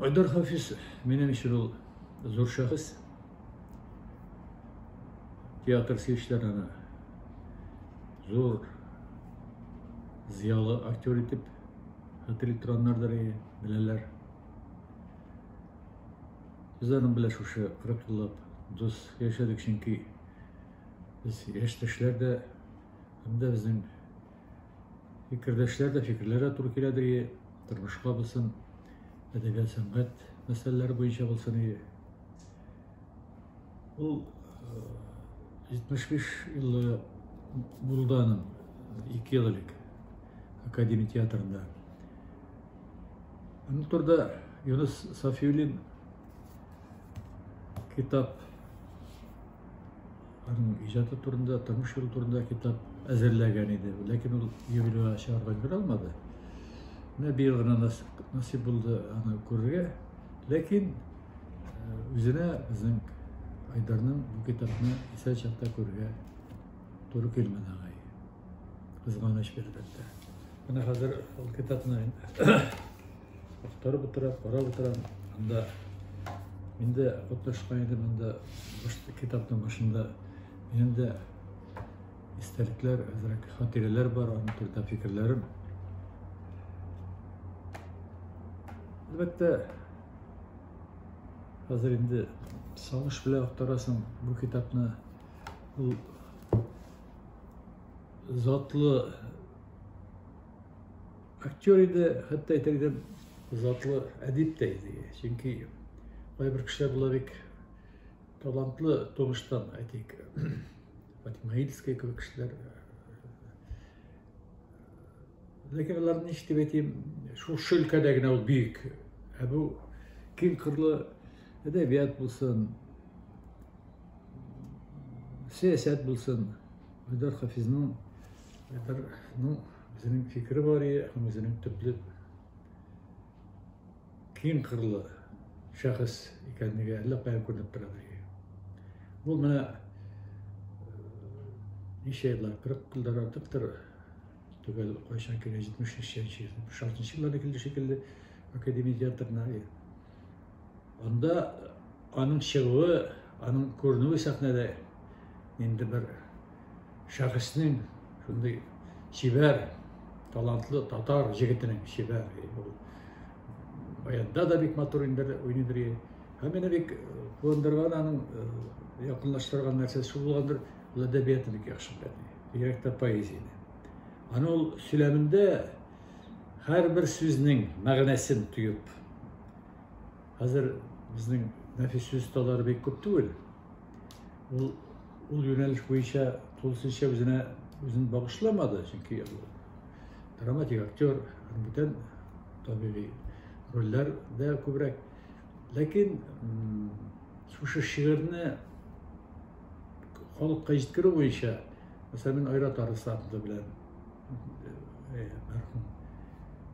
Айдар Хафизов, минем өчен ул зур шәхес. Театр сөючеләр аны зур зиялы актер итеп хәтер итеп торганнардыр, беләләр. Без аның белән шушы 40 еллап дус яшәдек, чөнки без яшьтәшләр дә, һәм дә безнең Фикердәшләр дә, фикерләр дә туры киләдер и, тормышка булсын, әдәбият, сәнгать мәсьәләләре буенча булсын и. Ул 75 елы булды аның, ике ел элек, Академия театрында. Аны турда Юнус Сафиуллин китап Аның иҗаты турында, тормыш юлы турында китап әзерләгән иде, ләкин ул юбилейга чыгарга өлгерә алмады. Менә быел гына насыйп булды аны күрергә. Ләкин э, үзенә безнең Айдарның бу китапны исән чакта күрергә туры килмәде аңай. Кызганыч бирдәттә. Менә хәзер ул китапны Актарып утыра, карап утыра. Анда мин дә катнашкан идем, анда китапның башында минем дә истәлекләр, әзрәк хатирәләр бар, аның турында фикерләрем. Әлбәттә, хәзер инде сагыш белән актарасың бу китапны. Ул затлы Актер иде, хәтта әйтер идем, затлы әдип тә иде. Чөнки кайбер кешеләр була бик талантлы тормыштан, әйтик, Фатима Ильская кебек кешеләр. Ләкин аларны ничек дип әйтим, шул өлкәдә генә ул бөек. Ә бу киң кырлы әдәбият булсын, сәясәт булсын, Айдар Хафизның, Айдарның Үзенең фикере бар и һәм үзенең төпле киң кырлы шәхес икәнлеге әллә каян күренеп тора бергә. Бу менә ничә еллар, 40 елдан артыктыр түгел, кайчан килгән 70 нче, 76 нчы елларда килде шикелле академия театрына. Анда аның чыгуы, аның күренүе сәхнәдә инде бер шәхеснең шундый чибәр, талантлы татар җегетенең чибәр. Баянда да бик матур инде уйный бери. Һәм мине бик куандырган аның якынлаштырган нәрсәсе шул булгандыр, ул әдәбиятны бик яхшы белә. Бигрәк тә поэзияне. Аны ул сөйләмендә Һәрбер сүзнең мәгънәсен тоеп. Хәзер безнең нәфис осталары бик күп түгел. Ул ул юнәлеш буенча тулысынча үзенә үзен багышламады, чөнки драматик актер, бүтән табигый рольләрдә күбрәк. Ләкин шушы шигырьне халыкка җиткерү буенча, мәсәлән, Айрат Арысланов белән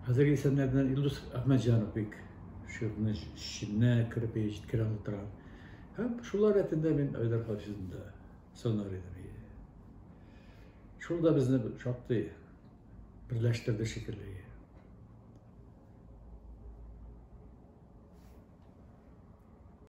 Хәзерге исемнәрдән Илдус Әхмәтҗанов бик шигырьне чишенә кереп җиткерә тора. Һәм шулар рәтендә мин Айдар Хафизны да санар идем. Шул да безне шактый берләштерде шикелле.